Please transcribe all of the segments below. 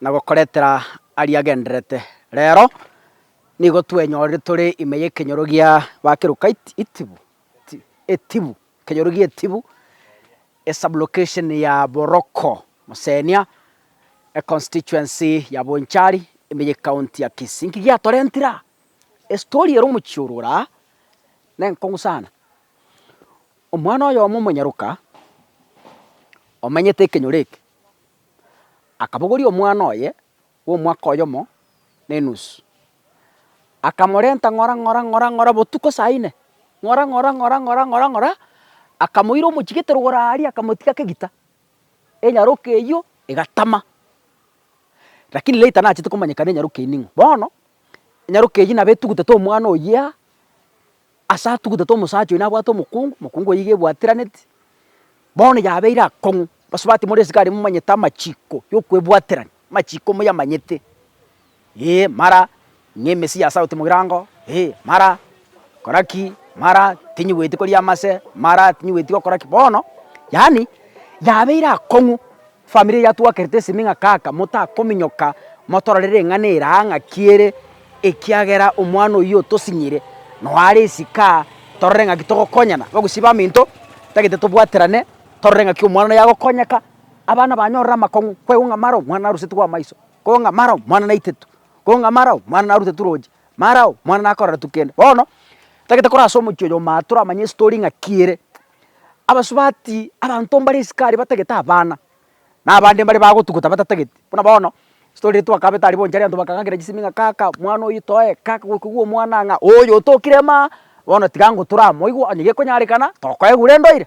na gokoretera aria agendererete. Reero nigo twenyorire tore ime y'ekenyoro gia ba keruka itibu, etibu, ekenyoro gi'etibu, e sub-location ya Boroko, Mosenia, e constituency ya Bonchari, ime y'ecounty ya Kisii. Nki giatorentire aa? Estory ere omochie orure aa nenkong'u sana. Omwana oyomo omonyaruka omenyete ekenyoro eke. akabogoria omwana oye bw'omwaka oyomo na enusu, akamorenta ng'ora ng'ora ng'ora ng'ora botuko saa ine, ng'ora ng'ora ng'ora ng'ora ng'ora ng'ora, akamoira omochigete rogoro aaria akamotiga kegita, enyaroka eywo egatama. Rakini later nachete komanyekana enyaroka eywo ning'o. Bono, enyaroka eywo nabo etugutete omwana oyia. Ase atugutete omosacha oye nabwate omokungu, omokungu oye iga ebwatiraneti, bono yabeire akong'u, basubati more esikari momanyete amachiko yokwebwaterani, amachiko moyamanyete, ee mara ng'a emesiya ase agotiga mogirango, ee mara kora ki, mara tinyigweti koria amase, mara tinyigweti gokora ki, bono yaani yabeire akong'u Family eye yatwakerete esemi ng'a kaka motakominyoka motorore ring'ana ere aa ng'aki ere ekiagera omwana oyio otosinyire noe are esike aa torore ng'aki togokonyana. Bagusii baminto tagete tobwaterane torore ng'aki omwana oyo agokonyeka abana banyorire amakong'u kwaigu ng'a mara omwana narusetigwe amaiso, kwaigu ng'a mara omwana naitetu, kwaigu ng'a mara omwana narutetwe roche, mara omwana nakoreretwe kende. Bono tagete korase omochie oyo omanyete toramanye estory ng'aki ere abasubati, abanto mbare esika aria batagete abana, na abande mbare bagotugota batatageti. Buna bono, story ere twakabete aria bonsi arianto bakang'akera chisemi ng'a kaka mwana oyo toe, kaka gokigwa omwana aa ng'a oyo otokire maa, bono tiga ngotura amo igo, onye gekonyarekana, tokoegure endo ira.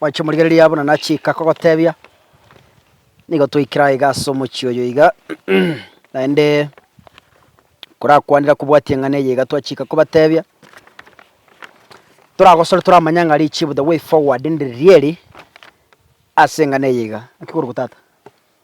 Mwachi chimorigereria abwo na nachika kogotebia nigo twaikire aiga ase omochie oyo iga naende korakwanera kobwatia eng'ana eye iga twachika kobatebia toragosore toramanye ng'a richibu the way forward ndiri rieri ase eng'ana eye iga. Naki korokwa tata?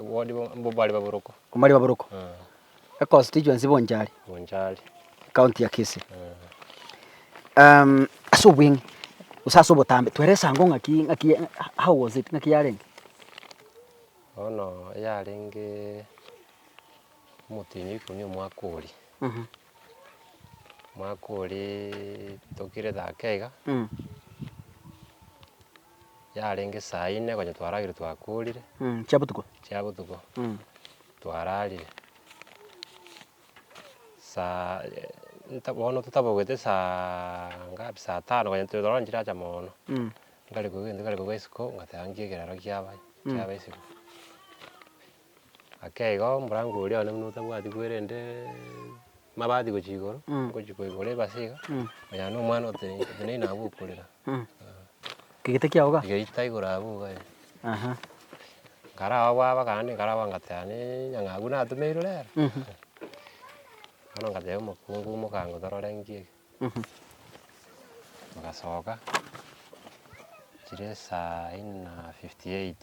Wodi mbobare baboroko. Mbobare baboroko. E constituency Bonchari. Bonchari. County ya Kisii. Um, ase obweng'e gose ase obotambe twere esango ng'aki ng'aki how was it ng'aki yarenge? Bono yarenge omotenyi oikumi omwaka oria. Mm -hmm. Omwaka oria tokire thaka iga. Mm. yarenge saa ine konya twaragire twakorire. Chia botuko. Chia botuko. Twararire saa bono totabogete saa ngapi saa tano konya tore ororo nchiracha moono. Nkarigwa egento kare korwa isiko ngateba nkie ekerero kiaba kiaba isiko. Ake igo omorango oria one buna otabwati kwerende mabati gochia igoro, ngochia koigora ebase iga, onya na omwana oteneine oteneine abwo okorera. Kegete kiago ga? Geita igoro abwo iga eh. Aha. Nkaraba bwaba kara naende nkaraba ngateba naende nyang'a abwo natomeirwe rero. Bono ngateba omokungu omoka ng'a torore ng'aki eke. Togasoka, chire saa inna fifty eight.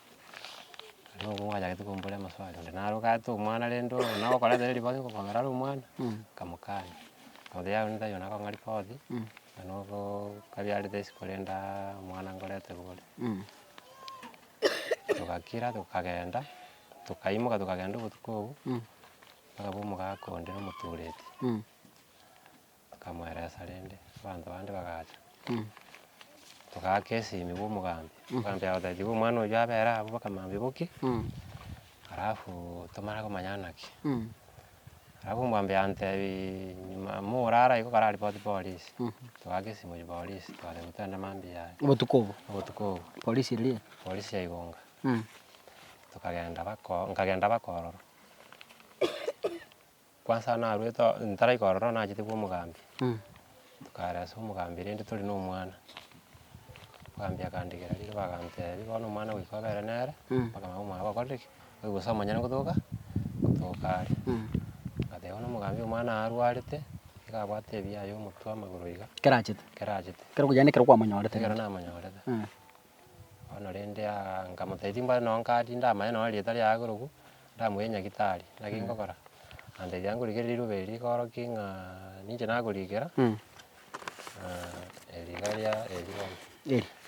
Nabo abwo bachagete kombora amaswali, onde naro gati omwana rende oo nabo okora ata ribaga igo okogera are omwana, nkamokania. Oria one tari one akong'aria koti, onde nogoo kabiarete ase korende aaaa omwana ngorete bore. Togakira tokagenda, tokaimoka tokagenda obotuko obwo, bokaba omogaka onde na omotureti. Akamweresa rende, abanto bande bagacha, togaaka esimi bw'omogambi, omogambi agateba, Tiga omwana oyio abere abwo mpaka mambia bokie, alafu tomanye komanya ng'a naki. Alafu omogambi agantebiiii, nyuma morara igo kara ripoti polisi, togaaka esimo ya polisi, twagenda togenda mambia aya, Obotuko obo, obotuko obo, polisi eria? polisi ya Igunga, tokagenda bako nkagenda bakororo. Kwansa narwete oo ntaraika korora oo nachete bwa omogambi, tokaara ase omogambi rende tore na omwana, omogambi akandegera rire bagantebia bono omwana goika obe ere nere, mpaka nabo omwana bakorire ki? Oigwe gose omonyene ngotoka ngotoka are. Ngateba bono omogambi omwana aye arwarete, nigo abwate ebiaye omotwe amagoro iga, Kerachete. kerachete, Kero okoyandekera kwamonyorete. ekero namonyorete. Bono rende aa nkamotebia timbwate nonya nkadi ndamanye nonya rieta riaye korokwu, ndamoiraneria nyagitari, naki nkogora, gantebia ngorikere riruba eri rikoroki ng'aaaa ninche nakorikera, riba ria eri bono,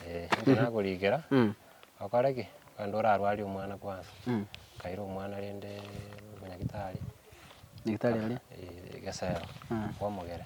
eh ninche nakorikera, okore ki? Rende orarwarie omwana kwansa, nkaira omwana rendeee nyagitari, eh egesero kwamogere.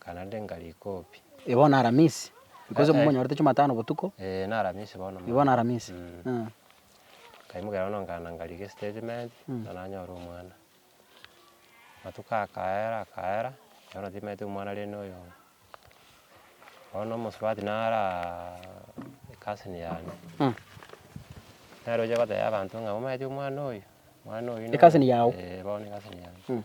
Kana nde ngari kopi. Eh bono Aramisi? Because momonyorete Jumatano botuko. Eh na Aramisi bono mono. Eh bono Aramisi. Eeh. Nkaimoka bono nkagenda nkarika estatement, na nanyora omwana. Amatuko akaera akaera, bono timaete omwana rende oyo oo. Bono omosubati naraa ecousin yane. Nere oche gotebia abanto ng'a omaeti omwana oyo, omwana oyo. Ecousin yago? Eh bono ecousin yane.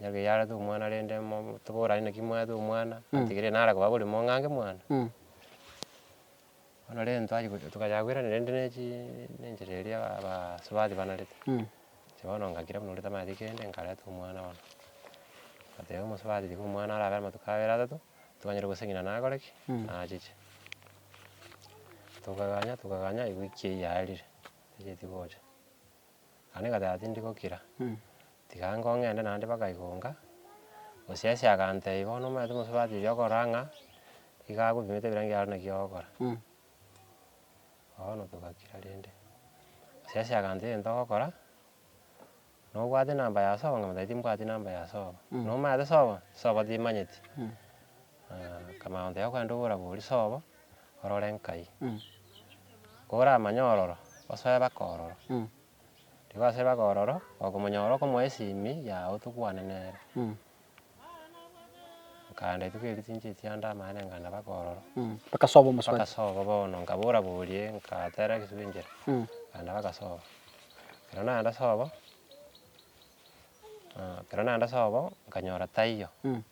Onye keyarete omwana rende mo- toborane naki mwarete omwana, ategerere nare koba korema ong'ange mwane. Bono rende twachia gocha tokachaka koirana rende ne chi ne enchera eria aba- abasubati banarete, inche bono ngakira buna ore tamanyeti kende nkareta omwana bono. Ngateba omosubati tiga omwana arabe amatuko abere atato, tokanyare goseng'ina nakore ki? Nachiche. Tokaganya tokaganya ewiki eyio yarire, tacheti gocha. Naende ngateba tindi gokira, tiga ango ng'ende naende mpaka igonga, gose ase agantebi bono omanyete omosubati oyio okora ng'a, iga agopimete ebirangi aro naki ogokora. Bono togakira rende, gose ase agantebi egento ogokora, nobwate enamba ya sobo ng'a mambia timbwati enamba ya sobo, nomanyete sobo, sobo timanyeti, Akamotebia, Ogende oborabori sobo, orore nkai, koramanye ororo, osoe baka ororo. Riria gwasoire baka ororo, okomonyora okomoa esimi yago tokwane nere. Nkaenda rituko erio chinchiri chianda amaene nkaenda baka ororo. Baka sobo omosubati. Baka sobo bono nkaba orabori nkatera egesuba enchera, nkaenda baka sobo. Ekero naenda sobo, ekero naenda sobo, nkanyora taiyo.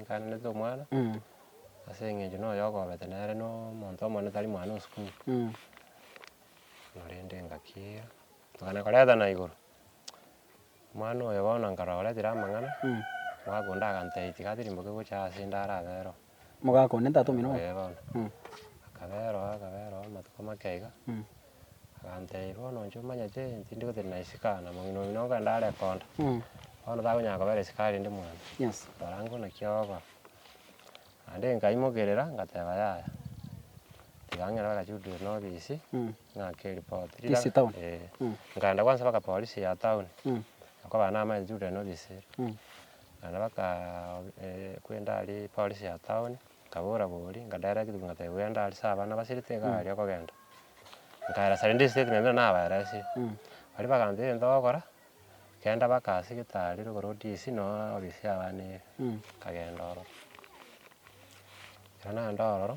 Nkaanete omwana, ase eng'encho noyo okoobete nere na omonto omonene tari mwana o sukuru. Korende engaki eyio, tokana koretana igoro, omwana oyo bono nkaroretire amang'ana, omogaka onde agantebi tiga tirimboke gocha aase inde are abere oo. Omogaka one ntatomire oo. Ee bono. Akabera oo akabera oo amatuko make iga. agantebia, bono inche omanyete tindi gotiri na esika, na omong'ina oyio nonye kogenda are konda, bono takonyara kobera esika rende mwane, rora ng'o naki ogokora. Naende nkaimokerera ngateba yaya, tiga ang'e naro agachuderwa na obisi, ng'ake eripoti. Ofisi town? Ee. Nkaenda kwansa mpaka polisi ya town, nkobaa namaete nchudere na obisi ere. Naende bakaa kwenda aria polisi ya town, nkabora boria, nkaderera egetugi ngateba bwende aria ase abana basirete iga aria okogenda. Nkaera sare ndisike ekero naende nabaerasie. Baria bakancha egento gokora, kenda baka ase getaari rogoro odisi nonya ofisi y'abana ere, nkagenda ororo. Ekero nagenda ororo,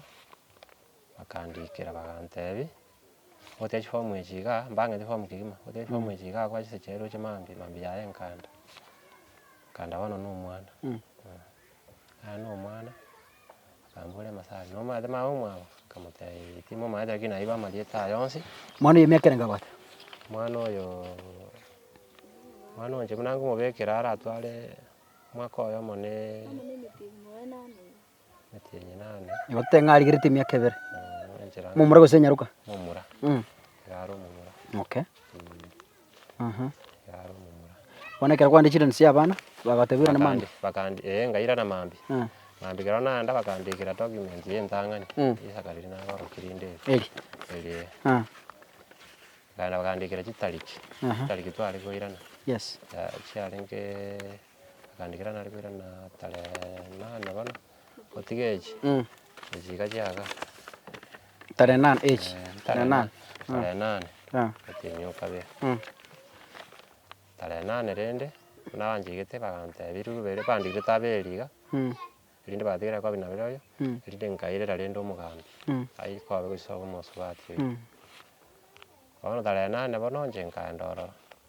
bakandikera bagantebi, ogotiga chifomu echi igaa, mbang'ete chifomu kegima, ogotiga chifomu echi igaa kwa chisecheri roche mambia, mambia yaye nkanda, nkanda bono na omwana. Naro na omwana, akambora Emasari, nomaete maye omwabo? Akamotebia, Timo maete, lakini naiba amarieta aye onsi. Omwana oyo emiaka ere ngabate? Omwana oyoo, omwana oyo inche buna ngomobekera aratware omwaka oyomo na emeti enenane. Nigo totebe ng'a arigerete emiaka ebere. Omomura gose enyaroka? Omomura, nigo are omomura. Okay. Bono ekero kwahandire chirandi chia abana, bagateberwa namambia? Bakandi- ee, ngairana mambia. Eh. Mambia ekero naenda bakandikera document ya entang'ani, Mm. risaka riria nagorokia rinde eri. Eri. Eri ee. Ah, Bakaenda bakandikera chitariki, Aha. chitariki tware koirana, yes. ya- chiarenge bakandikera nare koirana tarehe nane bono. Gotiga echi, echi iga chiaga. Tare nane echi. Tare nane. Tare nane. Gotinyia okabea. Tare nane rende, buna banchigete bagantebia riribu ribere bandigete taberi iga, erinde batigere kobi nabere oyo, erinde nkairera rende omogambi, aye kobe gochia sobo omosubati oyo. Bono tare nane bono inche nkaenda ororo.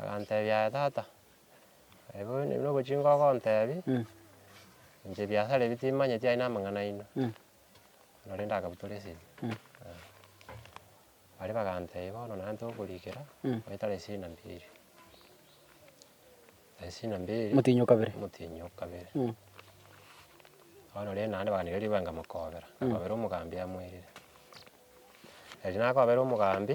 Agantebia, Aye tata, aye bono ebi nobochingwa ogontebi, inche ebiasara ebi timanyeti aye namang'ana aino, nabo rende akabutora esegi. Baria bagantebia, bono naye tokorikera, goetare esegi na mbiri. Esegi na mbiri. Omotienyi o kabere. Omotienyi o kabere. Bono rende naende baganera ribaga nkamokobera, nkakobera omogambi amoirire. Eri nakobera omogambi.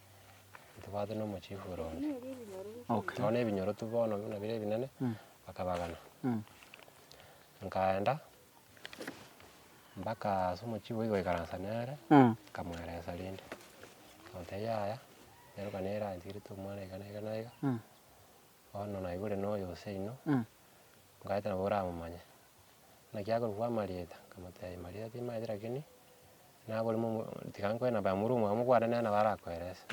Ntibwate nomochifu ore onde. Okay. Nonya ebinyorotu bono buna bire ebinene, bakabagana. Nkaenda, mpaka ase omochifu oyio goikaransa nere, nkamweresa rende. Nkamotebia yaya, nero ekero nairansigete omwana iga na iga na iga. Bono naigure noyo oseino, nkaete nabo oramomanye. Naki akorokwa Marieta, nkamotebia, Marieta timaete rakini, nagore momo tiga nkoe namba ya morwamu oye mokwane nere nabo arakoerese.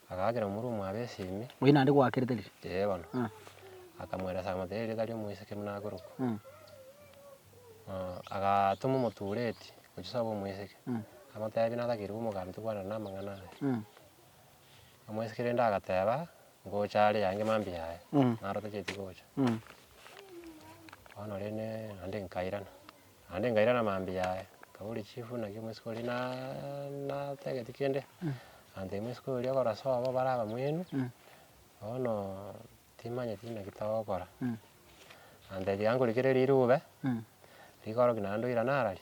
Agaakera omorwamu abe esimi. Oyio naende gwakerete riria. Ee bono. Akamoeresa akamotebia erieta ria omoiseke buna akorokwa. agatoma omotureti, gochia sobe omoiseke, amotebia natakeirwe omoganda tokwanera namang'ana aya. Omwesikiri ende agateeba, Ngocha are yange mambia yaye, naro tacheti gocha. Bono rende naende nkairana, naende nkairana mambia yaye, nkaboria chief naki omosike oria naa- natageti kende, ante omosike oria okora sobo bare abamwenu, bono timanyeti naki togokora. Antebi ankorikere rirube, rikoroki naende oirane ara ri.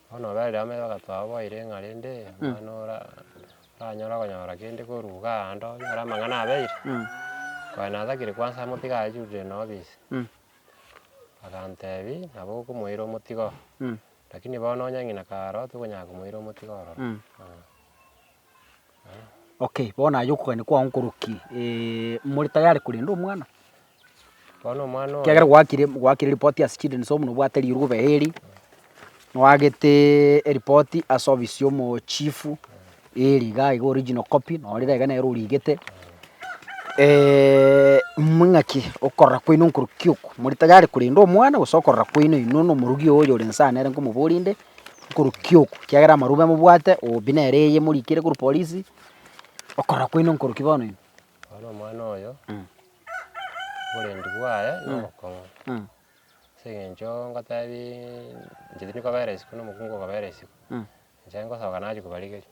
Bono Abarilamu bagatoa oboire ng'a rende omwana ora oranyare okonyora kende korwa iga ande onyore amang'ana abeire, konya natagire kwansa amotige ayurire na obisi. Agantebi nabo okomoira omotigo, lakini bono onye ng'ina karoo tokonyara komoira omotigo ororo. Okay, bono aye okogania kwao nkorokie, more tayari korenda omwana? Bono omwana oye. Ekiagera gwaakire gwaakire ripoti ase children's home na obwate rirogo obe heri, nwagete eripoti ase ofisi ya omochifu, eri igaa iga original copy, noo rira iga nere origete muna ng'aki okorora kwaino nkorokia okwo, more tayari korenda omwana gose okorora kwaino inwe na omorogi oyo oyorense aa nere nkomoboria inde. nkorukia oku, ekiagera amarube mobwate obi nere eye morikire korwa polisi, okorora kwaino nkorukia bono inwe. Bono omwana oyo Mm. oborendi bwaye na Mm. obokong'u, Mm. ase eng'encho ngotebiiii, inche tindi kobera isiko na omokungu okobera isiko, Mm. inche ngosoka nachia kobarigeria.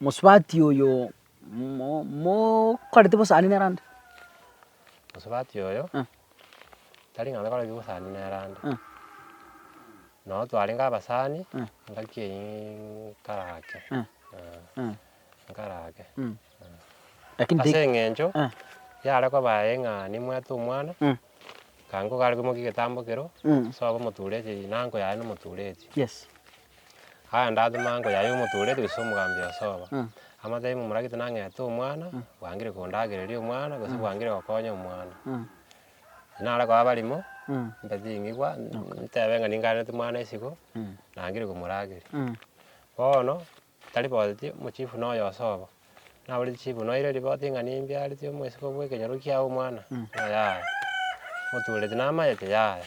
Mosubati oyo mokoreti bosani nere ande. Mosubati oyo tari ng'a tokoreti bosani nere ande. Nabo twarenge abasani engaki eyio nkare ake nkare ake. Ase eng'encho yare koba aye ng'a nimwete omwana kango gare komokia egetambo ekero soa obe omotureti na uncle yaye nomotureti. Aya ndatema ango yaye omotoretu gose omogambi o sobo, amatebi momoragete nang'ete omwana, bwangire kondagereria omwana, gose bwangire gokonya omwana. Nare koa abarimo, mbe chingigwa, ntebe ng'a ningareneti omwana isiko, nangire komorageria. Bono, tari boti omochifu na oyo o sobo, naboretie chifu noeire riboti ng'a nimbiareti omwesiko bw'ekenyoro kiago omwana, ng'a yaya, motoreti namayete, yaya.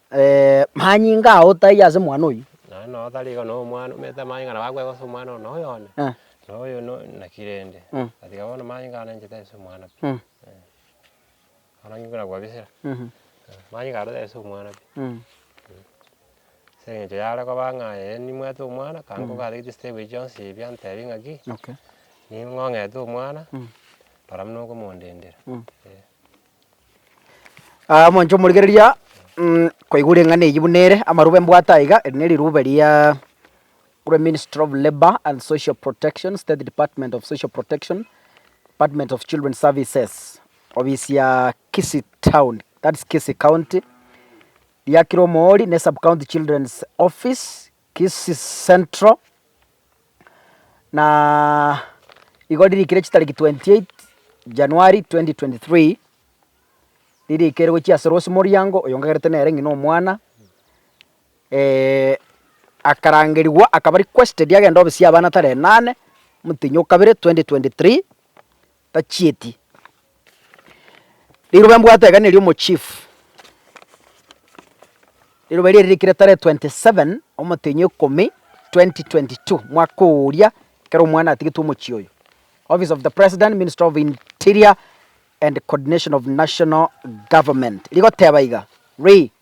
Manyinga ao taiyo ase omwana oyio. Nonya nonya otari igo na omwana omanyete amanyinga nabo akwegwa ase omwana one oyone, na oyo no naki rende. Gatiga bono amanyinga aya nainchete ase omwana pi, eh. Bono nki buna kwabisera, amanyinga aro tari ase omwana pi, ase eng'encho yare koba ng'a aye nimwete omwana kare nkogatigetie chitebo echi chionsi ebi antebi ng'aki, ning'ong'ete omwana, rora buna okomondendera, eh. Aa omonto omorigereria mm koigwa ring'ana eyio buna ere, amarube mbwate aiga, eri nerirube riaaa kore ministry of labour and social protection, state department of social protection, department of children services, ofisi ya kisii town that is kisii county, riakire omoori ne sub county children's office. Kisii Central, na igo ririkire chitariki 28 January 2023, ririkerwe chiase Rose Moriango, oyo ngagerete nere ng'ina omwana, eh, akarangerigwa akaba requested agende obesie abana tarehe nane, motenyi o kabere 2023, tachieti. Riroba mbwate iga neri omochief, riroba erio riarikire tarehe twenty seven omotenyi o ikomi twenty twenty two, mwaka oria ekero omwana atigetwe omochie oyo. Office of the President, Ministry of Interior and Coordination of National Government rigoteba iga, Re.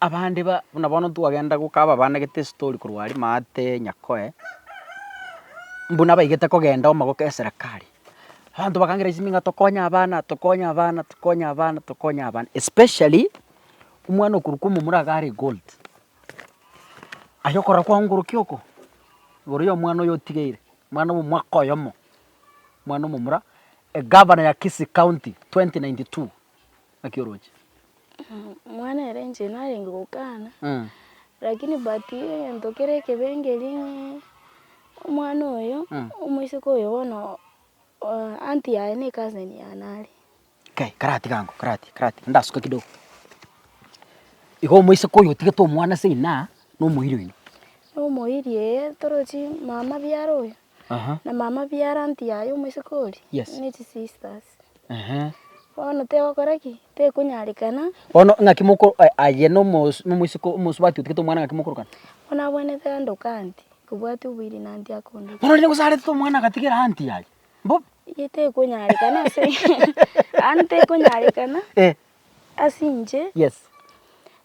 Abande ba buna bono twagenda goka ababanegete estori korwa aria maate Nyakoe, mbuna abaigete kogenda omo goka eserekari, abanto bakangera chisemi ng'a tokonye abana, tokonye abana, tokonye abana, tokonye abana, especially omwana okorokwa omomura iga are gold, aye okorora kwaongorokia oko, igoro ya omwana oyo otigeire, omwana bwa omwaka oyomo, omwana omomura, egavana ya Kisii county twenty ninety two. Naki oroche. Mwana ere inche narenge gokana, lakini but egento kere ekebengeri ng'ee omwana oyo, omoiseke oyo bono aunty yaye ne cousin yaye nare. Kai karati gango karati karati ndasuke kidogo. Igo omoiseke oyo otigete omwana ase inaa, nomoiri oino. Nomoiri ee, torochie mama biaro oyo. Aha. na mama bia aunt yaye omoiseke oria Yes. ne chisisters Ehe. bono tegokora ki tekonyarekana Bono ng'aki moko eh, aye na omos- na omoiseke omosubati otigete omwana ng'aki mokorokana? bono abwenerete aande okanti kobwati oboiri na anti akonde Bono rende gosarete omwana agatigera aunt yaye. Mbobe. iye tekonyarekana ase yaani tekonyarekana Eh. ase inche Yes.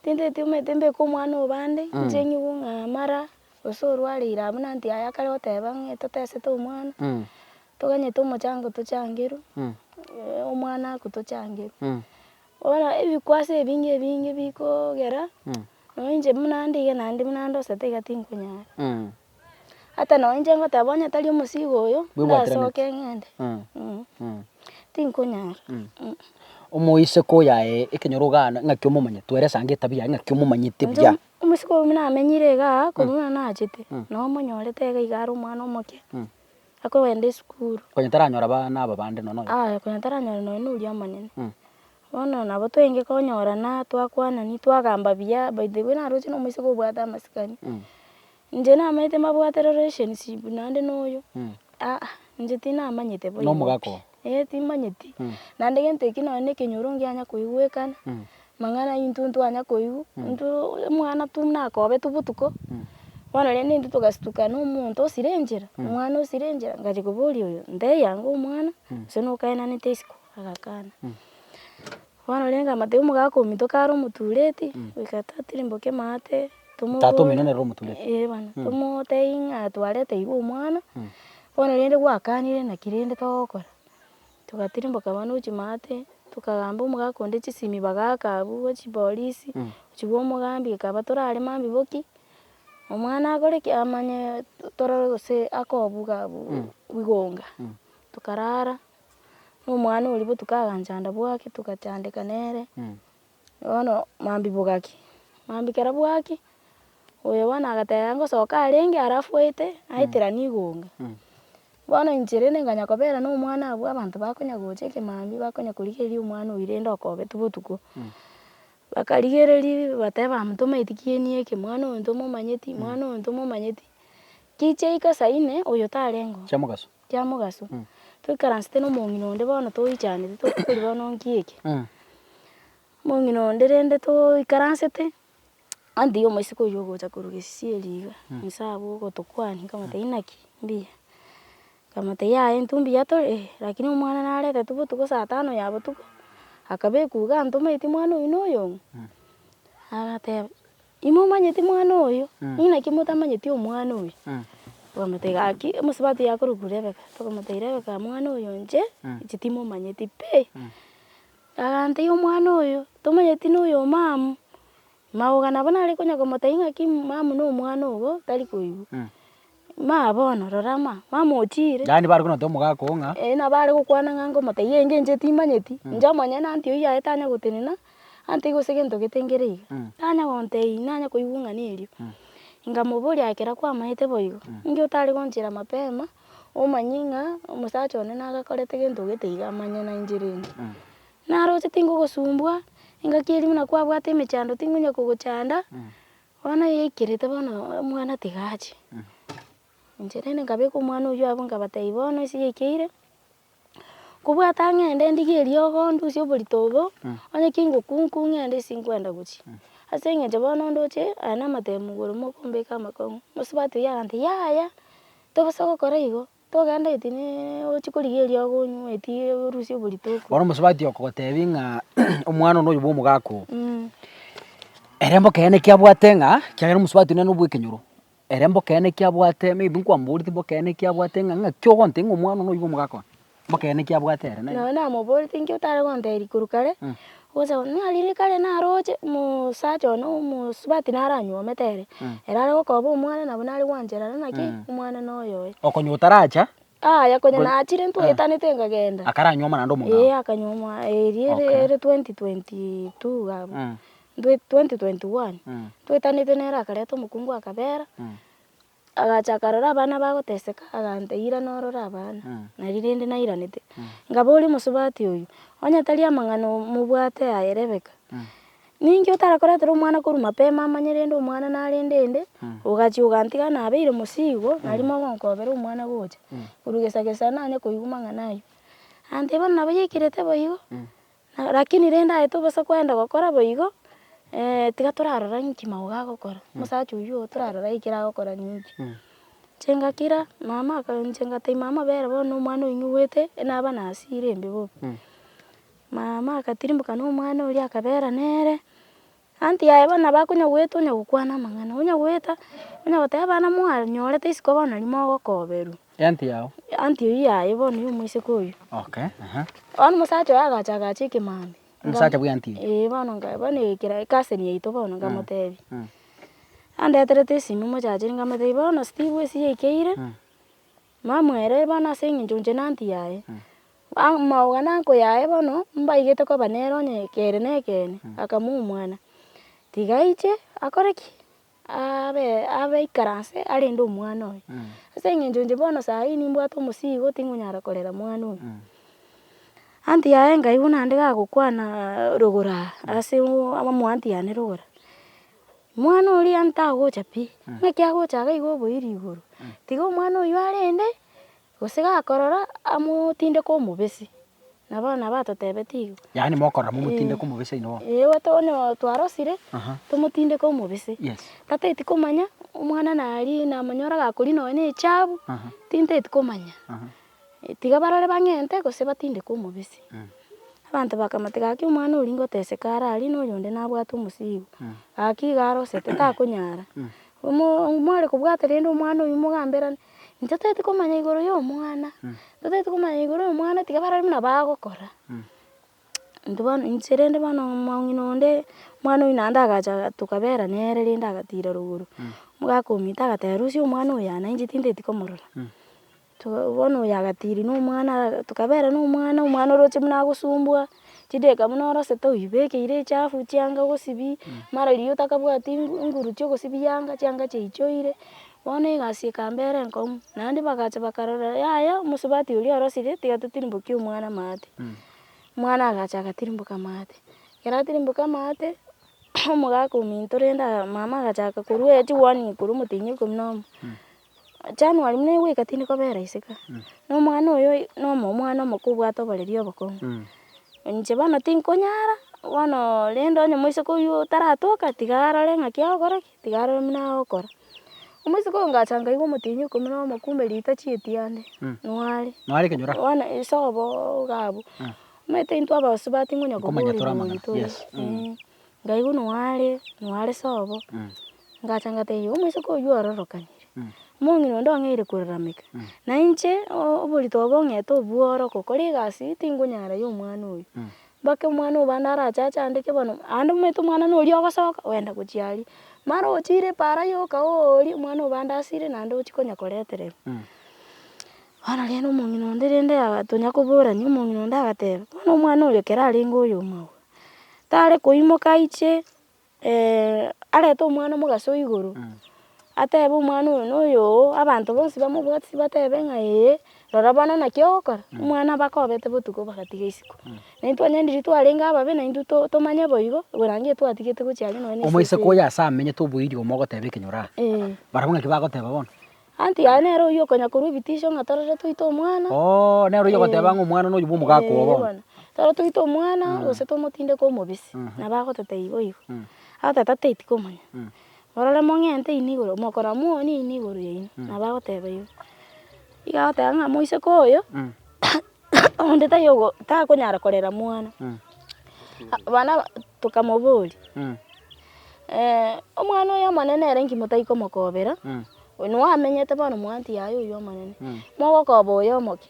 tintaetigomete mbeke omwana obande inche ng'igwe ng'a mara Gose orwareire abwo nanti aye akare goteba ng'a totesete omwana, toganyete omochango tochangerwe, omwana akwe tochangerwe. Bono ebikwaso ebinge ebinge bikogera, nonye inche buna nde iga naende buna ndosete iga tinkonyara. Ata nonye inche ngoteba onye tari omosigo oyo, ndasoke ng'ende, tinkonyara. Omoiseke oyaye ekero ogana ng'aki omomanyete, twere esaa ng'etabia yaye ng'aki omomanyete buya. Omosike oyio buna amenyire iga aa, korwa buna nachete, nabo omonyorete iga iga are omwana omoke, akogenda esukuru. Konya taranyora abana aba bande nonya oyomo. Aye, konya taranyore nonya oria omonene. Bono nabo twenge konyorana, twakwanani, twagamba buya, by the way naroche na omosike obwate amasikani. Inche namaete mabwate relationship naende na oyo aa inche tinamanyete boigo pi. Nomogaka oo. Eeh timanyeti. Naende gento ekio nonye na ekenyoro ngianya koigwekana, mang'ana intwe ntwanya koigwa, intwe omwana tu nakobe tu botuko, bono rende intwe togastuka na omonto osire enchera, omwana osire enchera, ngacha koboria oyo, nteiyanga omwana, gose nokaenanete isiko, agakana. Bono rende amate y'omogaka omintoke are omotureti, goika tatirimboke maate, tomo- Tata omino nere omotureti. Ee bana, tomotebia ng'a twareta iga omwana, bono rende gwakanire naki rende togokora. Togatirimboka bono gochia maate, tokagamba omogaka onde chisimi bagaka abwo bwa chipolisi, gochia kwomogambia ekaba torare mambia boki, omwana akore ki? Amanye torore gose akobuga bu- bigonga. Tokarara. na omwana oria botuko aganchanda bwaki togachandeka nere, bono mambia bogaki, mambia kero bwaki, oyo bono agateba ngosoka arenge aria afwaete aeteranie igonga, bono inche rende nkanya kobera na omwana abwo abanto bakonya gocha ekemambia bakonya korigereria omwana oyio rende okobeti botuko, bakarigereria bateba amo tomaeti ki eni eke, mwana oyo ntomomanyeti, mwana oyo ntomomanyeti, gicha ika saa inne oyo tarenge oo. Chiamogaso. Kia mogaso, toikaransete nomong'ina onde bono toichanete tokoria bono nki eke. Omong'ina onde rende toikaransete, onde tiga omoiseke oywo ogocha korwa gesieri iga, inse abwo ogotokwania nkamotebia inaki? Mbuya. Nkamotebia yaya intwe mbuya tore? Eeh. Rakini omwana naretetwe botuko saa tano ya botuko, akabekwa iga antometi mwana oywo na oyong'u? Agateba. Imomanyeti mwana oyo, inaki motamanyeti omwana oyo? Bakamotebia, Gaki, omosubati yakorokwa Rebeka. Bakamotebia, Rebeka mwana oyo inche, inche timomanyeti pi. Agantebia, Omwana oyo, tomanyeti noyo omamu. Magoka nabo nare konya komotebia ng'aki mamu nomwana ogo tari koigwa. Maya bono, rora ama, mamochiire. Yaani bare konoteba omogaka oo ng'a. Eeh nabo are gokwana ng'a ngomotebia iga engencho eye timanyeti, inche omonyene anti oyio aye tanya gotenena, anti gose gento gete nkere iga, tanya gontebia nanya koigwa ng'a nerio. Nkamoboria ekero kwamaete boigo, ninki otare gonchera mapema, omanye ng'a omosacha one naye gakorete gento gete iga amanye nainche rende. Naroche tinkogosumbua, engaki eria buna kwabwate emechando tinkonya kogochanda. Bono yaikerete bono omwana tiga ache, inche rende nkabeka omwana oyio abwo nkabatebi bono ase yaikeire, nkobwate ng'ende ndigie eriogo ndusie oborito obo, onye ki ngokwa nku ng'ende ase nkwenda gochia. Ase eng'encho bono ndoche aye namatemo igoro mokombeka amakong'u, mosubati oyio agantebia yaya tobosa gokora igo, Togenda eti ne ochie korigia eria okonywa eti orusie oborito okwe. Bono omosubati okogotebi ng'a omwana one oyo bw'omogaka oo. Ere mboka eyene eki abwate ng'a kiagera omosubati nere nobwekenyoro, ere mboka eyene eki abwate maybe nkwamboreti mboka eyene eki abwate ng'a ng'aki ogontebia ng'a omwana one oyio bw'omogaka one, mboka eyene eki abwate ere naende. Nonye namoboreti inki otare gontebi korwa kare. Gose buna rinde kare narooche, omosacha one omosubati naranyuomete ere, ere are gokoba omwana nabo nare gwancherera naki, omwana noyo oye. Okonya otaracha. Aya konya nachire ntwaetanete nkagenda. Akaranyuoma naende omong'ao. Ee akanyuoma eria ere ere twenty twenty two iga abwo, twenty twenty one, twaetanete nere akareta omokungu akabera. Agacha akarora abana bagoteseka, aganta eira norora abana, nari rende nairanete. Ngaboria omosubati oyio, Onye tari amang'ana mobwate aye Rebeka, ninki otarakoretera omwana korwa mapema amanye rende omwana narende ende, ogachia ogantiga nabeire mosii igo, nari mogonkobera omwana gocha korwa gesa gesa nanye koigwa mang'ana ayio? Agantebia, Bono nabo yaikirete boigo, Lakini rende aye tobasa koenda gokora boigo, tiga torarora ng'inki magogo agokora, omosacha oyio oo torarora ng'inki agokora ng'inki. Inche ngakira mama aka inche ngataima amabere bono na omwana oyio nyoboete naba na hasira embe bobe. Mama akatirimboka na omwana oria akabera nere. Anti yaye bono nabo akonyagoeta onyagokwana amang'ana, onyagoeta, onyagoteba abana mware nyorete isiko bono nari mogokoberwa. Anti yao. Anti oyio yaye bono ya omoiseke oyio. Okay, aha. Bono omosacha oye agacha agacha ekemambia. Nga- Omosacha bwa anti. Ee bono nga bono ekera ecousin yaito bono nkamotebia, andeterete esimi omochacheri nkamotebia bono Steve esi yaikeire. Mamweree bono ase eng'encho inche nanti yaye. Aa maoga nanko yaye bono, mbaigete koba nere onye kere na ekeene, akamua omwana. Tiga aiche akore ki? Aabe abe aikaranse arende omwana oye. Ase eng'encho inche bono saa hii nimbwate omosigo tingonyara korera mwana oyo. Anti yaye nkaigwa naende gagokwana rogoro aa ase omoanti yane rogoro. mwana oria ntagocha pi, ng'aki agocha iga iga oboiri igoro, tiga omwana oyio arende, gose gakorora amotinde ka omobesi, nabo abana batotebetie igo. Yaani mokorora momotinde ka omobesi oino oo. Ee oto one oo twarosire, Aha. tomotinde ka omobesi. Yes. Tateti komanya, omwana nari namanyora gakori nonye na echabu, Aha. tinteti komanya. Aha. Tiga barore bang'ente, gose batindeke omobisi. Abanto bakamoteba, Gaki omwana oria ngoteseka are aria, na oyonde nabwate omosigo. Gaki igo arosete, takonyara. Omo- mware kobwata rende omwana oyio mogamberane, intwe toeti komanya igoro y'omwana, intwe toeti komanya igoro y'omwana, tiga barore buna bagokora. Intwe bono, inche rende bono omong'ina onde, omwana oyio naende agacha tokabera nere rende agatira rogoro, omogaka omito agateba, Rusia omwana oyo aa, nainche tintaeti komorora. Too bono oyo agatiri na omwana ara tokabera na omwana, omwana oroche buna agosumbua, chideka buna orosete oibekeire echafu chianga ogosibia, mara riria otakabwati ngu nguru chia ogosibia yanga chianga chiachoire, bono egasi ekambera enkong'u. Naende bagacha bakarora yaya omosubati oria orosire tiga totirimbokie omwana maate, omwana agacha agatirimboka amaate. Ekero atirimboka amaate, omogaka ominto rende aa mama agachaka korwa echi warning korwa omotienyi ikomi na omo, January buna igoika tindi kobera ise ka, na omwana oyo na omwana omoke obwate oboreri obokong'u. Inche bono tinkonyara, bono rende onye moiseke oywo taratoka, tiga arore ng'aki agokora ki, tiga arore buna agokora. Omoiseke oyo ngacha nkaigwa omotienyi oko buna omokumbe riita chieti ande, nware. Nware ekenyoro? Bono isobo iga abwo. Omanyete intwe abasubati ngonya kobua Okomanya toramanya, orimoru tore, yes, eh. ngaigwa noare noare sobo ngacha ngatebia omoiseke oywo ororokanire omong'ina onde ong'eire korarameka na inche o- oborito obo ong'ete obworo gokora egasi tingonyara ya omwana oyo mpaka omwana oyo bande arache achandeke bono aande omanyete omwana nori ogosoka ogenda gochia aria mara ochire para yoka oori omwana oyo bande asire naende ochia konya koretereri bono rende omong'ina onde rende aga tonya koborani omong'ina onde agateba bono omwana oyo ekero arenge oyomorwa tare koimoka aiche arete omwana omogaso o igoro, atebe omwana oyo na oyoo, abanto bonsi bamobwate batebe ng'a ee, rora bono naki ogokora, omwana mpaka obete botuko bagatiga isiko. Na intwe onye ndiri twarenge ababe na intwe to tomanye boigo, orange etwatigete gochia are nonye na esese eye. Omoiseke oyo ase amenyete oboiri omo ogoteba ekenyoro aa, barabwo ng'aki bagoteba bono? Anti yaye nere oyio okonya korwa ebitisho ng'a torore toite omwana. Oo, nere oyio ogoteba ng'a omwana nonya bwa omogaka oo bono. bono. Torore toite omwana gose tomotinde kwa omobisi. Nabo agoteta igo igo. Agoteta tei tikomanya. Morore mong'ente inwe igoro, mokora mwonie inwe igoro yaino. Nabo agoteba igo. Igo agoteba ng'a moiseke oyo onde tayogo takonyara korera mwana, abana aba tokamoboria omwana oyo omonene ere nki motai komokobera, oyo nigo amenyete bono mwanti yaye oyo omonene, mogokoba oyo omoke,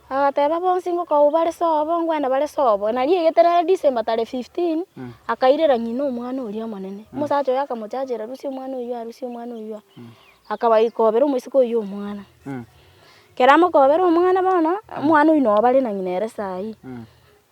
agateba bonsi ngokoa bare sobo, ngwenda bare sobo, nari egete nere December tarehe fifteen, akairera ng'ina omwana oria omonene, omosacha oye akamochachera rusia omwana oyio aa, rusia omwana oyio aa, akabaikobera omosike oyio omwana. Kera mokobera omwana bono, omwana oyio noo bare na ng'ina ere saa hii.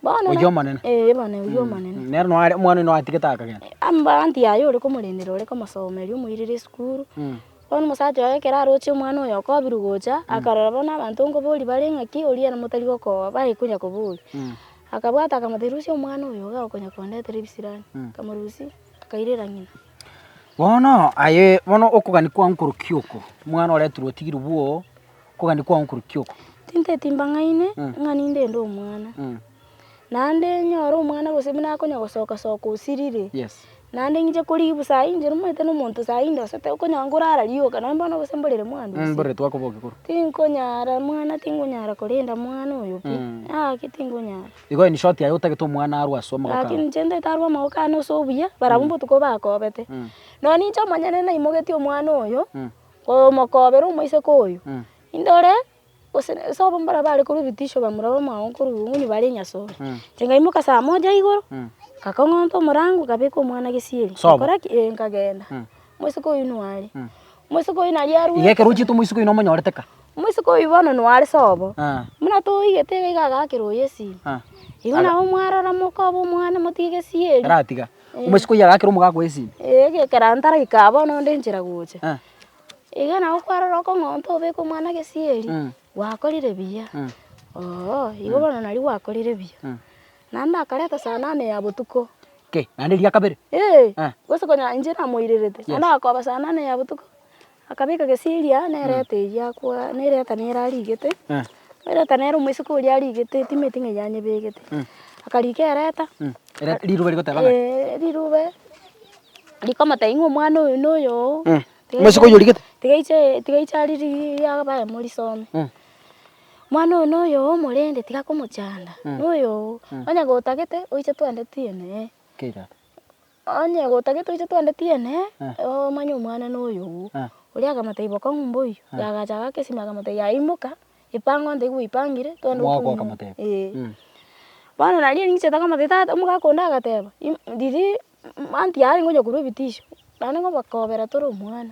Bono na- Oyio omonene. Eh, bono oyio omonene. Nere noo are omwana oyio atigete akagenda. Amabaanto yaye ore komorendera ore komosomeria omoirere esukuru, Mm. bono omosacha oye ekero aroche omwana oyo okobirwa gocha, akarora bono abanto nkoboria bare ng'aki, oria ere motari gokooa bae konya koboria. Mm. Akabwata akamoteba, rusia omwana oyo iga okonya kondetera ebisirani. Akamorusia, akairera ng'ina. Bono aye, bono okogania kwao nkorokia oko, omwana oretirwe otigiri bwoo, okogania kwao nkorokia oko. Tinteti mbang'aini ng'a ninde inde omwana, naende nyore omwana gose buna akonya gosoka soka osiriri, naende ng'inche koribu sayi inche nimanyete na omonto sayi ndosete okonya ngorara rioka nonye bono gose mborere mwandu ase, tinkonyara mwana tinkonyara korenda mwana oyo pi, ng'ake tinkonyara. Igo in short aye otagete omwana arwe ase amagoko ao. Lakini inche ntaete arwe amagoko ane ase obuya, barabwo mbotuko bakoobete. Nonye ninche omonyene naimogetie omwana oyo, komokoobera omoiseke oyo, indore gose ase abwo mbarabwo bare korwa ebitisho bamura bamao korwa obong'unyi bare enyasore, inche ngaimoka saa moja igoro, ngakong'onta omorango, ngabeka omwana gesieri, ngakora ki? Ee, nkagenda. Omoiseke oyio noo are. Moiseke oyio naria arwete. Igekera ochiete omoiseke oyio nomonyorete ka. Moiseke oyio bono noare sobo. Ah. Buna toigete iga iga agakera oyo esiri. Ah. Igo Aga- nabo mwarora mokoba omwana motige gesieri. Eratiga. Eh. Omoiseke oyio agakera omogaka oye esiri. Eh, egekera ntaraika bono onde enchera gocha. Ah. Iga nabo kwarora okong'onta obeke omwana gesieri. Mm. Gwakorire buya. Mm. Ooh, igo bono nario gwakorire buya. Mm. Naende akareta saa nane ya botuko. Okay, naende eria kabere? Ee, Eh. gose konya inche namoirerete. Yes. Naende agakoba saa nane ya botuko, akabeka gesiria na ereta eria akwa, na ereta nere arigete. Eh. Ereta nere omoiseke oria arigete etimeti ng'a eria anyebegete. Akarika ereta, Mm. Ere- Riruba rigoteba ng'a. eh, rirube, rikomotebia ng'a omwana oyo na oyo oo. Mm. Tiga Omoiseke oyo aiche- origete? Tiga aiche, tiga aiche ariri- abae morisome. Mm. Mwana oyo noyoo omorende tiga komochanda noyoo onye gotagete oiche twende tiene ee. Kira. Onye gotagete oiche twende tiene ee omanye omwana noyoo oria akamata iboka ng'u mboyo yagacha agaka esimi akamotebia yaya imoka ipange onde igo oipangire twende Mwao otume kwakamoteba. ee. Bono naria ninchiete komotebia tata omogaka onde agateba riria aunty yare ngonya korwa ebitisho naende ngobakobera tore omwana.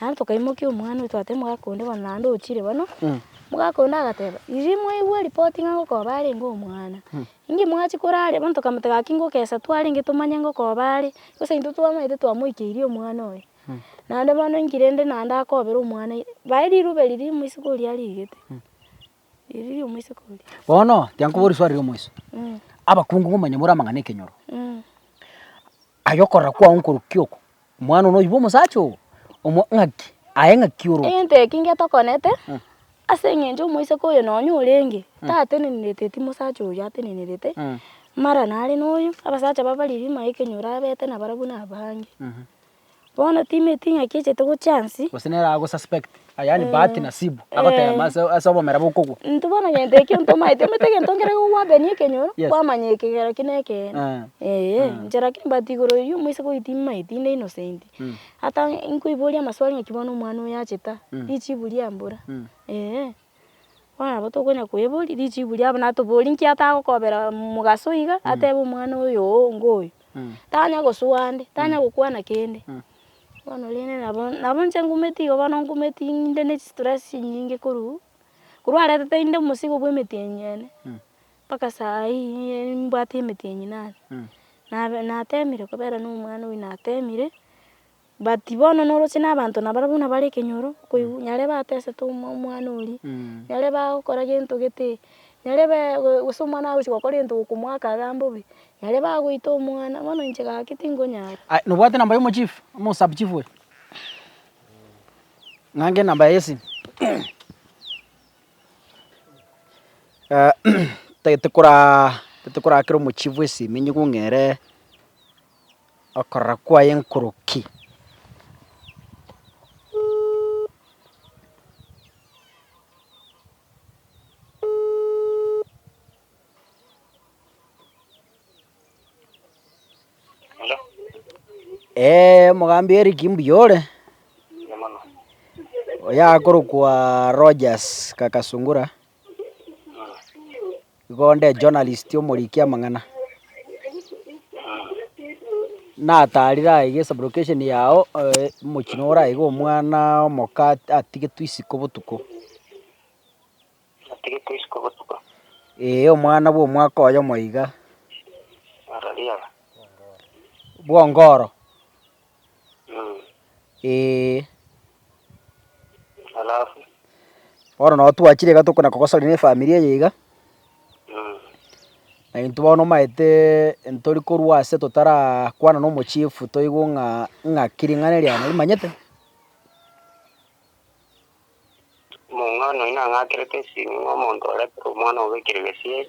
Naende tokaimokia omwana oito twateba omogaka onde bono naende ochire bono, omogaka onde agateba, riria mwaigwa ripoti ng'a ngokoba arenge omwana, inki mwachia korara? Bono tokamoteba gaki ngokesa twarenge tomanye ngokoba are, gose intwe twamanyete twamoikeirie omwana oye. Naende bono inki rende naende akobera omwana ere, bae riruba eri riria omoiseke oria arigete, eri riria omoiseke oria. Bono, tiga nkobore risuali ria omoiso, abakungu komanyia more amang'ana 'ekenyoro. Aye okorora kwao nkorukia oko, omwana one oibwe omosacha obo, omwa ng'aki, aye ng'aki oro. Egento eki ngetokonete, ase engencho omoiseke oyo nonya orenge, tatenenerete eti mosacha oyo atenenerete, mara nare noyo, abasacha babariri maike nyora abete nabarabwo nabange. Bono timeti ng'aki echete gochia nsi. Gose nere agosuspect, yaani bahati nasibu, agotema ase ase obomera bokogwa. Intwe bono gento ekio ntomaete, omanyete egento ekero gokobabeni ekenyoro, Yes. kwamanya ekegera ki nekeene. Eh. Eeh, Eh. inche lakini but igoro eyio moise kori timaeti inde innocent. Mm. Ata nkoiboria amaswali ng'aki bono omwana oyo achete aa, Mm. richibu riambura. Mm. Eeh. Bono nabo tokonya koeboria richibu riabo na toborie nki atagokobera mogaso iga atebe omwana oyo oo ngo oyo. Tanya gosoa ande, tanya gokwana kende. Bono rende nabo nabo inche ngumeti igo bono ngumeti ng'inde ne chistress chinyinge korwa korwa aretete inde omosigo bwa emeti enyia ene mpaka saa hii mbwate emeti enyia nane. Nabe natemire kobera na omwana oyo natemire. But bono noroche nabanto nabare buna bare ekenyoro, okoigwa, nyare batesete omo- omwana oria, nyare bagokora gento gete, nyare bee go- gose omwana agochia gokora egento gokomoaka agambe obe, nyare bagoita omwana, bono inche gaki tingonyara. Aya, nobwate namba ya omochief, amo osubchief oyo? Ng'ange enamba yaye y'esimu. tagete koraa tagete koraa kera omochief esimu enyigung'eree. Okorora kwaye nkoroki. Eeh omogambi Eric mbuya ore? Oyakorokwa Rogers Kakasungura. Igo onde journalist omoriki amang'ana. Natarire aye gesa brocation yao eh, mochino oraige omwana omoka atigetwe isiko botuko. Atigetwe isiko botuko. Eh, omwana bwa omwaka oyo moiga. Arariaga. Bwongoro. Ee. Bono nabo twachire iga tokona kogosarigwa ne efamiri eye iga, na intwe bono omaete ntori korwa ase totarakwana na omochiefu toigwe ng'a ng'aki ring'ana eria narimanyete? Omong'ina oino nang'akerete esimi ng'a omonto orete omwana obe ekero gesieri.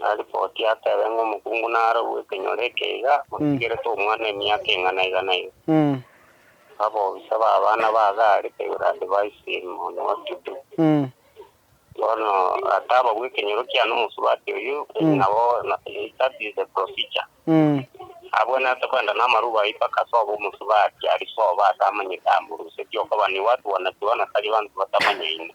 Na ripoti atebe ng'a omokungu narorwe ekenyoro eke iga, otigerete omwana emiaka eng'ana iga na iga. Abobisa b'abana ba Gari baigure adivaisi monwe o Tutu. Bono atabagwe ekenyoro kiane omosubati oyio, nabo that is the procedure. Abwenerete kwenda namarubo ayio mpaka ase obo omosubati aria sobo atamanyete amorusetie okobani watu wanajua na tari banto batamanyaine.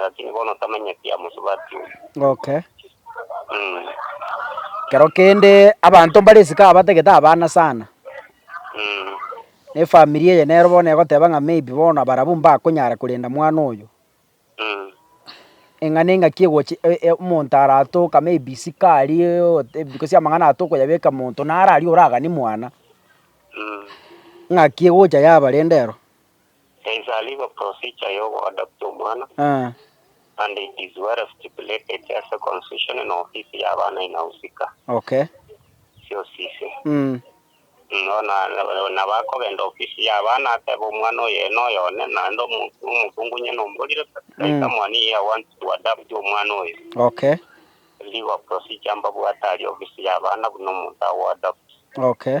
Lakini bono tamenyeti amosubati oyo. Okay. Mm. Kero kende abanto mbare esika abatagete abana sana. Mm. Ne family eye nero bono egoteba ng'a maybe bono abarabu mbakonyara korenda mwana oyo. Mm. Eng'ana eng'aki egochi e- e- omonto aratoka maybe isiko aria ote because amang'ana aya tokoyabeka monto naro aria oraganie mwana. Mm. Ng'aki egocha yabarenda ero. There is a legal procedure ya ogo adopta omwana, and it is well stipulated ase constitution na ofisi ya abana inahusika. Okay. Chiofisi. Mm. Bono nabo akogenda ofisi ya abana atebe omwana oye noyo one, naende omokungu onye nomborire that someone here wants to adopt omwana oyo. Okay. Legal procedure mbabwate aria ofisi ya abana buna omonto ago adopt. Okay.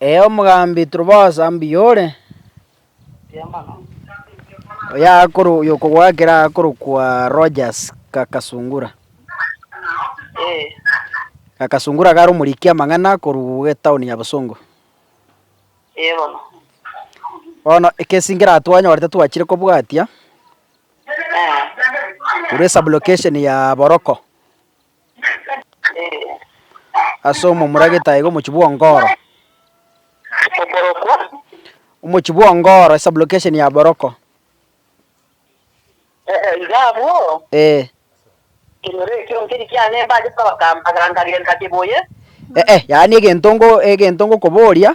Ee, omogambi Truphos, mbuya ore? Oyokogoakera akorokwa Rogers Gakasungura. Gakasungura kare omoriki amang'ana korwa etaoni ya Bosongo. Bono egesingera twanyorete twachire kobwatia, korwa esublocation ya Boroko, ase omomura gete iga omochie bwa Ongoro. Omochie bwa Ongoro esublocation ya Boroko. Ee, iga abwo. Ee. Kenyora ekio nkeri kiane mbachete kogamba, na nkagenda kibuye. Ee, yaani egento ngo, egento ngokoboria.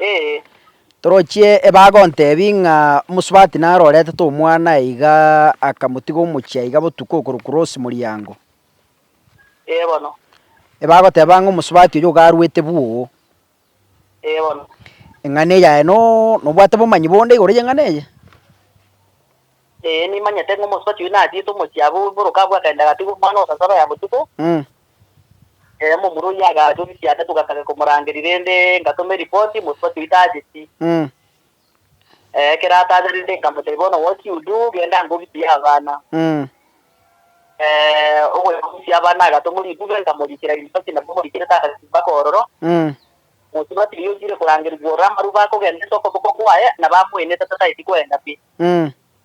Ee. Torochie ebaga ontebi ng'a omosubati naro oretete omwana aye iga akamotiga omochie aiga botuko okoru cross moriango. Ee bono. Ebagoteba ng'a omosubati oyio iga arwete bwoo. Ee bono. Eng'ana eye yaye no, nobwate bomanyi bonde igoro y'eng'ana eye? Ee, nimanyete ng'a omosubati oyio nachiete omochie abwo bw'emoroka abwo akaenda agatigwa omwana o sasaba ya botuko. Mm. Ee, momura oyio agacha ofisi yane togataka komorangeria rende ngatoma eripoti, mosubati oyio tacheti. Mm. Ekero ataacherete nkamotebia, Bono gochia Yuda ogende ango obisie abana. Mm. Ogoika gobisie abana agatoma ritube, nkamoriikera ribasi, nabo omoriikerete agasimba kororo. Mm. Mosubati oyio otiire korangerigwa ororo amaruba akogenda ase okoboko kwaye, na bamoenete tataeti kwenda pi. Mm.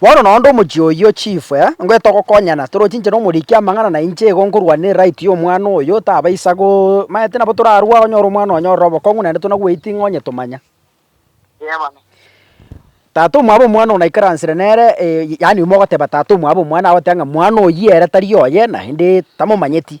Bono naende omochie oyio chief eh, ngoe togokonyana toroche inche na omoriki amang'ana na inche igo nkorwa ne right y'omwana oyo tabaisa go maete nabo torarwa onyore omwana onya ororo obokong'u naende tona waiting onye tomanya. Tata omwabo omwana oyo naikaransire nere eh, yaani mogoteba tata omwabo omwana agoteba ng'a mwana oyio ere tari oye naende tamomanyeti.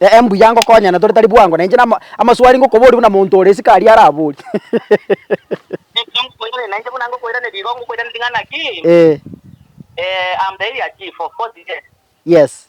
Ee, mbuya ngokonyana tore tari bwango, na inche namo amaswali ngokoboria buna monto ore isiko aria araborie. Ee. Yes.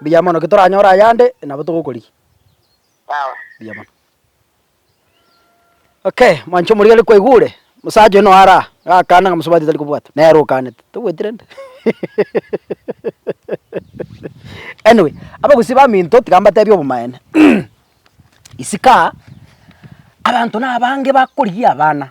Mbuya mono, ki toranyore ayande nabo togokorigia. Mbuya mono. Okay, mwanche omoria are kwaigwa ore, mosacha oyo noyo are aa, gakana ng'a mosubati tari kobwatwa, nere okanete, tobwati rende anyway, abagusii baminto tiga mbatebie obomaene isiko aa, abanto nabange bakorigia abana.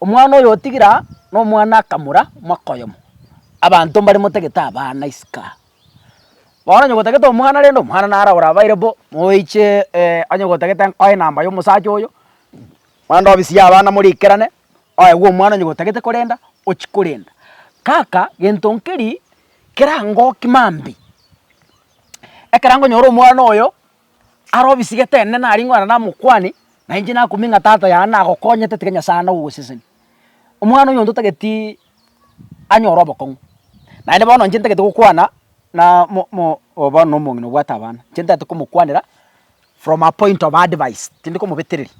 Omwana oyo otigire aa, nomwana akamura mwaka oyomo, abanto mbare motagete abana isiko aa. Bono onye gotagete omwana rende omwana naro orabaire bo, moeche onye gotagete nkoe enamba ya omosacha oyo, mande obisie abana morikerane, oegwe omwana onye gotagete korenda, ochi korenda. Kaka, gento nkeri, kerangoki mambia, ekero nkonyora omwana oyo. Are obisigete ende nari ng'ora namokwani, na inche nakumie ng'a tata yane nagokonyete tiga Nyasae ande ogoseseni. Omwana oyonto otageti anyore obokong'u, naende bono inche ntagete gokwana na mo mo obo bono na omong'ina obwate abana, inche ntagete komokwanera from a point of advice, tindi komobetereri,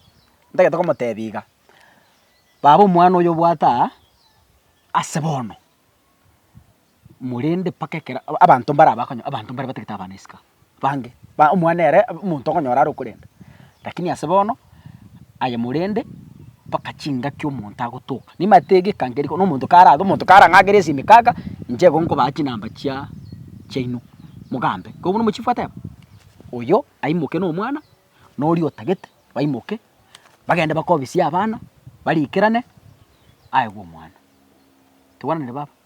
ntagete komotebia iga, baba omwana oyo obwate aa ase bono. Korende mpaka ekero abanto mbare abakonyora, abanto mbare batagete abana isiko bange, ba omwana ere omonto okonyora are okorenda. Rakini ase bono, aye morende mpaka chingaki omonto agotoka. Nimanyete iga ekange riko, na omonto kare abe, omonto kare ang'akere esimeka iga, inche igo nkobaa chinamba chia chiaino, mogambe. Ko buna omochifu ateba, oyo aimoke na omwana, na oria otagete baimoke, bagende bakobisie abana, barikerane, aegwe omwana. Tokwananire baba?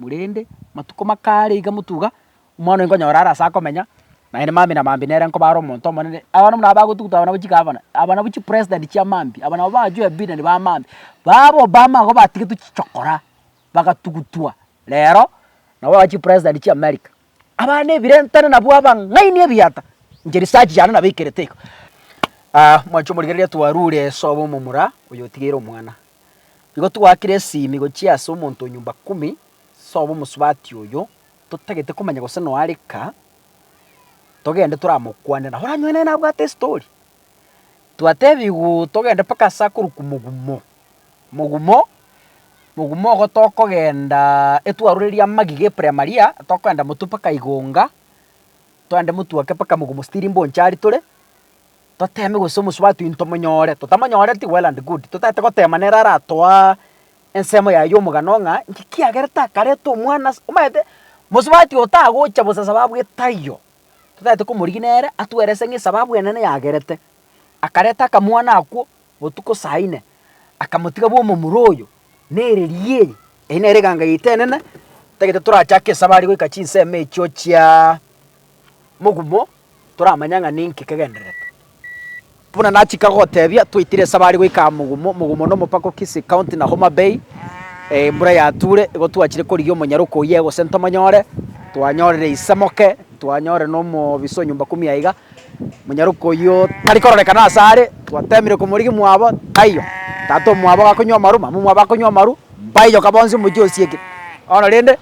Korende matuko makare iga motuga, omwana oyo nkonyora arase akomenya, naye na mambia na mambia nere nkoba are omonto omonene. Abana buna aba bagotuguta abana ba chigavana, abana ba chipresident chia mambia, abana nabo bachwe ebi na ebi ba mambia. Baba ba Obama igo batigetwe chichokora, bagatugutwa, rero nabo aba chipresident chia America. Abana nebirentane nabwo abang'aini ebiata, inche research yane nabo ikerete igo. Ah, mwanchi omorigereria twarure esobo omomura oyo otigeire omwana. Igo twakire esimi gochia ase omonto o nyumba kumi, sobo omosubati oyo, totagete komanya gose noa rika, togende toramokwane nabo oranywe naye nabwate estori. Twatebigwa togende mpaka ase akorokwa Omogumo, Mogumo, Mogumo ogo tokogenda etwaroreria amagiga epremaria, tokogenda motwe mpaka Igunga, togende motwe ake mpaka Mogumo still mboncha aria tore, toteme gose omosubati oino tomonyore, totamonyoreti well and good, totaete gotema nere aratoa ensemo yaye y'omogano ng'a inki kiagerete akareta omwana ase, omanyete mosubati oyo tagocha bosa sababu etaiyo, totagete komorigina ere atwerese ng'a esababu enene yagerete. Akareta akamwana akwo botuko saa ine, akamotiga bw'omomura oyo, na ereriia eye. Eye nere eganga yaito enene, totagete torachake esabari goika chinsemo echio chia mogumo, toramanya ng'a ninki kegendererete. Buna nachika gotebia, twaitire esabari goika Mugumo, Mugumo nomopaka o Kisii County na Homa Bay. Embura yature, igo twachire korigia omonyaroka oyia gose ntomonyore, twanyorire ise moke, twanyorire nomobisa o nyomba kumi aiga, omonyaroka oyio tari kororekana ase are, twatemire komorigia mwabo, taiyo, tata omwabo gakonywa amaru, mama omwabo akonywa amaru, mbaiyoka bonsi omochie osiekire bono rende.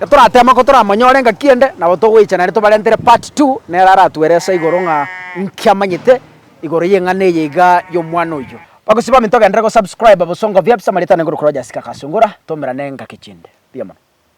Getoratema ko toramanyore engaki ende, nabo togoicha naende tobarentere part two nere aratuerese igoro ng'a inki amanyete igoro y'eng'ana eye iga y'omwana oyio. Bagusii bamino togenderere gosubscriba bosongo biabisamarita nenguru korwa Jessica Kasungura, tomerane engaki chinde. Mbuya mono.